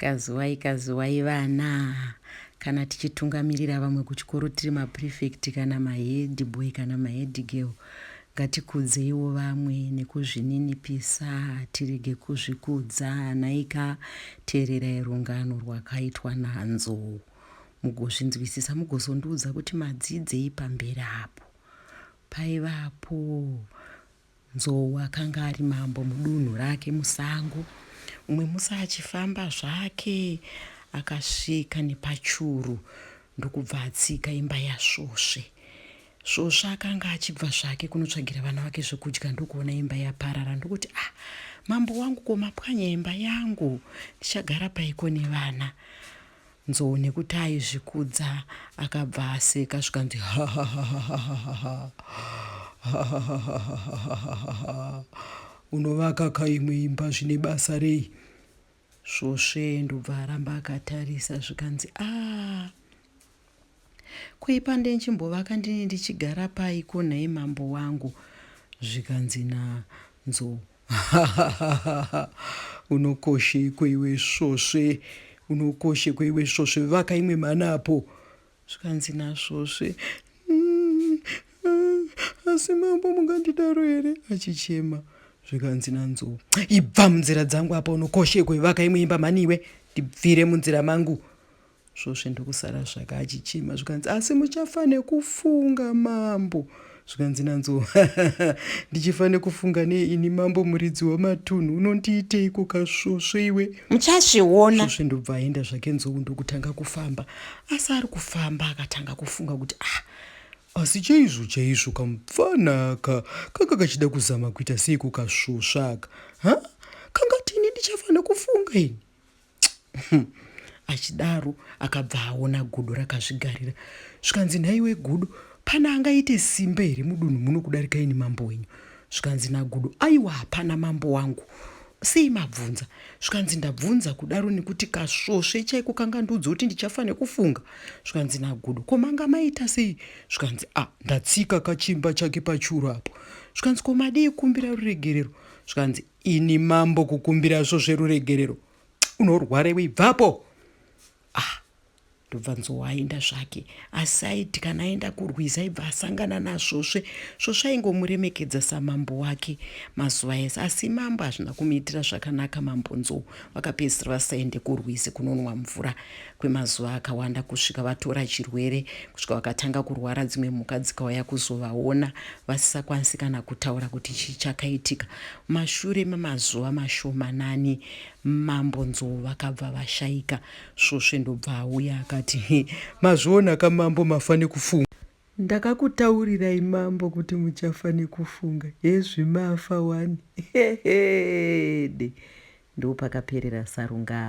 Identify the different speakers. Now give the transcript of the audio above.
Speaker 1: Kazuwai kazuwai vana. Kana tichitungamirira vamwe kuchikoro tiri maprefect kana mahead boy kana mahead girl ngatikudzeiwo vamwe nekuzvininipisa tirege kuzvikudza nhaika teererai rungano rwakaitwa nanzo mugozvinzwisisa mugozondiudza kuti madzidzei pamberi apo paivapo Nzou akanga ari mambo mudunhu rake musango. Umwe musi achifamba zvake akasvika nepachuru ndokubva atsika imba yasvosve. Svosve akanga achibva zvake kunotsvagira vana vake zvekudya ndokuona imba yaparara ndokuti, ah, mambo wangu ko mapwanya imba yangu, ndichagara paiko nevana? Nzou nekuti aizvikudza akabva aseka zvikanzi unovaka ka imwe imba zvine basa rei svosve ndobva aramba akatarisa zvikanzi a ah, kuipa ndenchimbovaka ndini ndichigara pai ko nhai mambo wangu zvikanzi nanzou Unokoshekwe iwe svosve. Unokoshekwe iwe svosve. Vaka imwe mhana apo. Zvikanzi nasvosve. Mm, mm, asi mambo mungandidaro here? Achichema. Zvikanzi nanzou. Ibva munzira dzangu apa unokoshekwe. Vaka imwe imba mhani iwe. Ndibvire munzira mangu. Svosve ndokusara zvake achichema zvikanzi, Asi muchafa nekufunga mambo. Zvikanzi nanzo, Ndichifa nekufunga nei ini mambo muridzi wamatunhu unondiiteiko kasvosve iwe? Muchazviona. Svosve ndobva aenda zvake nzou ndokutanga kufamba. Asi ari kufamba akatanga kufunga kuti ah asi chaizvo chaizvo kamupfanaka kanga kachida kuzama kuita seiko kasvosvaka ha kangati ini ndichafanira kufunga ini achidaro akabva aona gudo rakazvigarira zvikanzi nhaiwe gudo pana angaite simba here mudunhu muno kudarika ini mambo wenyu zvikanzi nagudo aiwa hapana mambo wangu sei mabvunza zvikanzi ndabvunza kudaro nekuti kasvosve chaiko kanga ndiudza kuti ndichafa nekufunga zvikanzi nagudo ko manga maita sei zvikanzi a ah, ndatsika kachimba chake pachuru apo zvikanzi ko madii kumbira ruregerero zvikanzi Ini mambo kukumbira zvo zveruregerero unorwarewo ibvapo ah ndobva nzowa aenda zvake asi aiti kana aenda kurwiza ibva asangana nasvosve svosve aingomuremekedza samambo wake mazuva ese asi mambo hazvina kumuitira zvakanaka mambo nzou vakapedzisira vasaende kurwizi kunonwa mvura kwemazuva akawanda kusvika vatora chirwere kusvika vakatanga kurwara dzimwe mhuka dzikauya kuzovaona vasisakwanisi kana kutaura kuti chii chakaitika mashure memazuva mashomanani mambo nzou vakabva vashaika svosve ndobva auya akati mazviona kamambo mafane kufunga Ndakakutaurirai mambo kuti muchafa nekufunga hezvi mafa wani heede. Ndopakaperera Sarungano.